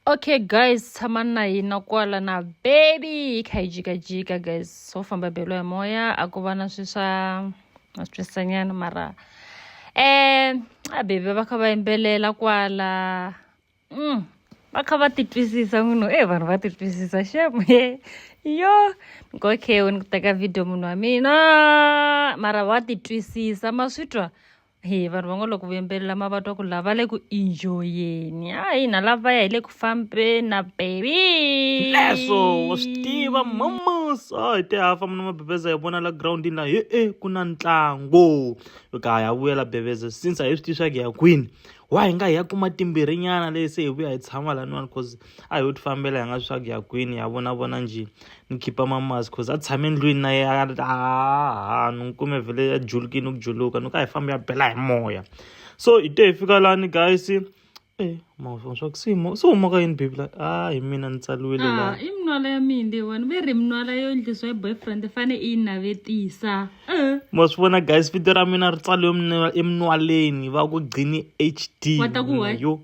okay guys tshamani na hina kwala na baby kha yi jikajika guys so famba belo ya moya a ku va na swi swa na swi twisanyana mara um a baby va kha va yimbelela kwala mm. va kha va titwisisa n'wino e vanhu va titwisisa xem e yo niko okay ni ku teka video munhu wa mina mara wa titwisisa ma swi twa hi vanhu va ngo loko vuyimbelela ma vatwa ku la va le ku enjoyeni a hi na lavaya hi le ku fambeni na baby leswo wa swi tiva mamas a hi te ha famba na mabebeza hi vona la groundini la he-e ku na ntlangu ka ha ya vuyela bebeza since a hi swi tivi swa ku ya kwini wa hi nga hi ya kuma timbirhinyana leyi se hi vuya hi tshama laniwani cause a hi yo ti fambela hi nga swa ku ya kwini ya vona vona njhe ni khipa mamask cause a tshame ndlwini na yena a ri haha ni n'wi kume vhele ya julukile ni ku juluka ni ku a hi fambi ya bela hi moya so hi te hi fika lani guys e mavona swa ku se huma se huma ka yini baby la a hi mina ni tsaliwile la i minwala ya mina leyi wena ve ri minwala yo ndlisiwa hi boyfriend i fane i yi navetisa mo swi vona guys vito ra mina ri tsaliwe eminwaleni va ku gcini hd yo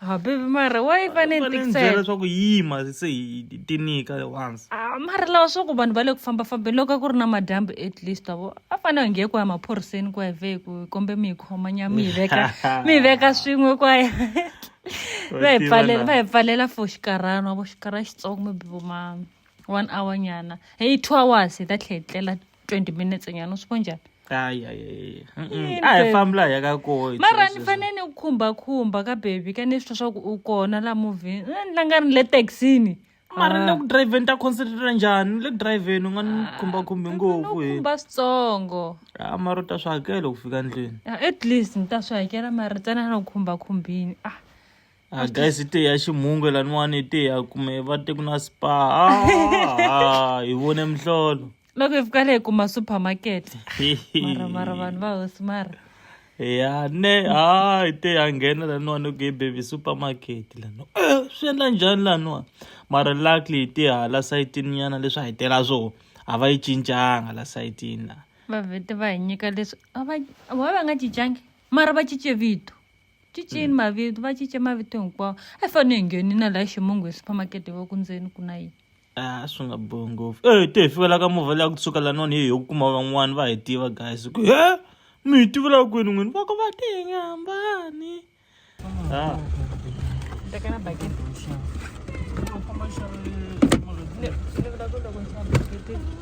habibi mara wa yi fane ni tikisela leswaku yima se hi tinika once ah, mara lawa swa ku vanhu va le ku famba fambeni loko a ku ri na madyambu at least wavo a fanele hi nge ku ya maphoriseni ku ya ve ku kombe mi yi khoma nya mi yi veka mi yi veka swin'we ku ya va hi pfalela va hi pfalela for xikarhana wavo xikarha xitsongo mi bivo ma one hour nyana hey two hours hi ta tlhe hi tlela 20 minutes nyana u swi vo njhani hayi hayi Yini a hi babe? fambi laha yaka koho hi mara ni sweswo. fanele ni ku khumbakhumba ka bebi ka ni swi twa swa ku u kona la movhini ni endla nga ri ni le taxini mara ni le ku driveni ta concentrate njhani ni le ku driveni u nga ni khumbakhumbi ngopfu he khumba switsongo a mara u ta swi hakela ku fika ndlwini Ah, at least ni ta swi hakela mara tsana na ku khumbakhumbini ah Ah, guys i tee ya ximhungwe laniwani i tee ya kume va te ku na spa ah, hi vone mihlolo loko hi fika le hi kuma supermarket mara mara vanhu va hosi mara ya ne ha i te ya nghena laniwani loko hi baby supermarket lano Eh, swi endla njhani laniwani mara luckily hi te hala sayitini nyana leswi a hi tela swona a va yi cincanga la sayitini la va vhete va hi nyika leswi a va a va va nga cincangi mara va cince vito cincini mavito va cince mavito hinkwawo a yi fanele hi nghenina laha ximongo hi supermarket va ku ndzeni ku na yini a swi nga bohi ngopfu e te hi fikela ka movha leya ku tshuka lanoni hi yo ku kuma van'wani va hi tiva guys ku he mi hi tivela kwini n'wini va ku va te hi nga hambani ha tekana baketi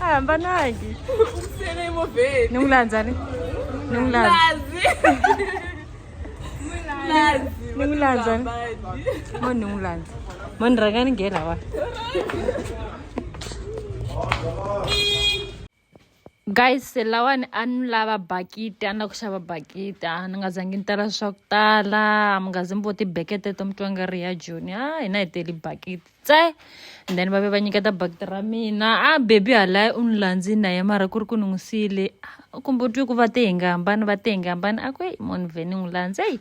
a hambanangi ni n'wi landza ni ni n'wi landza ni n'wi landza ni mo ni n'wi landza mo ni rhanga ni nghena wa guys lawani a ni lava bakiti a ni la ku xava bakiti a ni nga zangi ni tala swa ku tala mi nga zi mi vo tibekete to mi twa nga ri ya joni a hina hi teli bakiti tse and then va ve va nyiketa bakiti ra mina a bebi halaya u ni landzi na ye mara ku ri ku ni n'wi siyile kumbe u twi ku va te hi nga hambani va te hi nga hambani a ku heyi mo ni vhe ni n'wi landze heyi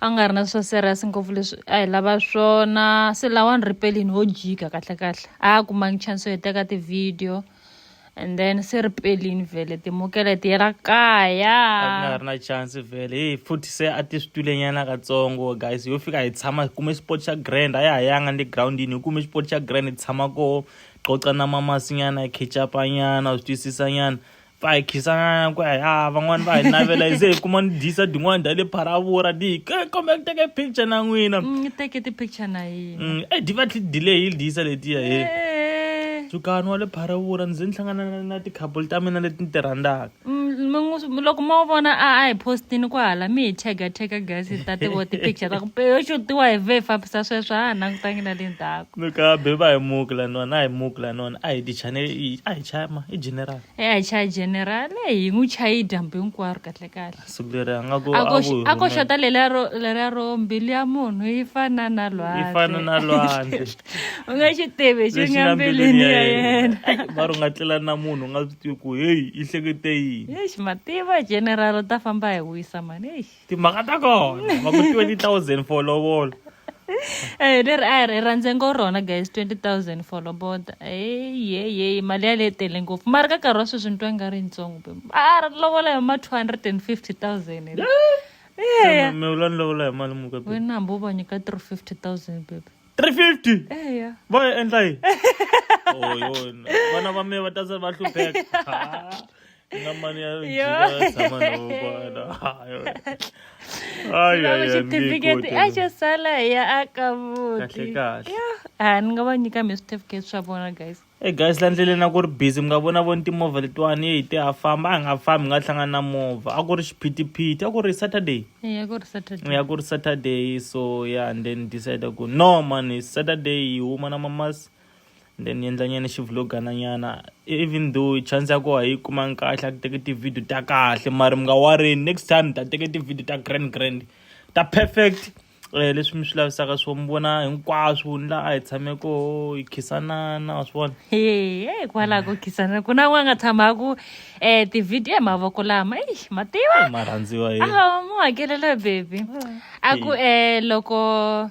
a nga ri na swo serious ngopfu leswi a hi lava swona se lawani ripelini ho jika kahle kahle a ha kumangi chance yo hi teka ti-video and then se ripelini vhele timukele ti yela kaya a ku nga ri na chance vhele hi futhi se a ti swi tulenyana katsongo guys yo fika hi tshama hi kume xipoti xa grand a ya ha yanga ni le groundini hi kume xipoti xa grand hi tshama koho qoca na mamasinyana hi khicapanyana swi twisisanyana va hi khisanana ku ya ya van'wani va hi navela hi ze hi kuma ni disa din'wani da le pharavura di hi "Eh, kombela ni teke picture na n'wina Mm, teke ti-picture na yini Mm, e di va tlhi dile hi disa letiya he Eh, tsukani wa le pharavura ndzi ni hlangana na- na tikhapuli ta mina leti ni ti rhandzaka mm, mi n'wi swi- loko mo vona a a hi postini kwahala mi hi tshega tshega gasi ta tivo ti-picture ta ku pe yo xutiwa hi ve hi fambisa sweswo a ha langutangi na le ndzhaku loko a be va hi mukula nona a hi mukula nona a hi di chane a hi chama i general e a chaya general e hi n'wi chayi dyambu hinkwaro kahlekahle siku leri a nga ku a ku a ko xota leliya ro leriya ro mbilu ya munhu yi fana na lwandle yi fana na lwandle u nga xi tivi xi nga mbilwini ya yena va ri nga tlela na munhu u nga swi tivi ku heyi i hlekete yini exi mativa general u ta famba hi wisa mani exi timhaka ta kona va ku 20000 for lovola eh leri a ri rhandze ngo rona guys 20000 for loboda eyeyey mali ya leyi tele ngopfu mari ka nkarhi wa sweswi ni twa nga ri yitsongo be a lovola hi ma 250000 eya me ulani lovola hi mali muka be wena hambi u va nyika 350000 bebe 350 eya va yi endla yini oyo vana va me va ta za va hlupheka Inga mani ya Yo. njira sama na ubana. Ay ay ay. certificate a xo sala hi ya a ka Kahle vutli kahle. a ni nga va nyika mi switifiketi swa vona guys Hey guys la ndleleni a ku ri busy mi nga vona voni timovha letiwani hi ti ha famba a hi nga fambi hi nga hlangana na movha a ku ri xiphitiphiti a ku ri saturday ya ku ri saturday ya ku ri saturday so ya and then decide ku no mani saturday hi huma na mamasi then ni endla nyana xivlogana nyana even though chance ya kona a yi kumangi kahle a ku teki ti-video ta kahle mara mi nga worry next time ni ta teka ti-video ta grand grand ta perfect leswi mi swi lavisaka swo mi vona hinkwaswo ni laha a hi tshame koho hi khisanana wa swi vona hehe hikwalaho ko khisanana ku na n'wana nga tshamaku um eh, tivhidiyo hi mavoko lama i ma tiva ma rhandziwa hi mu hakelela bebi a ku um loko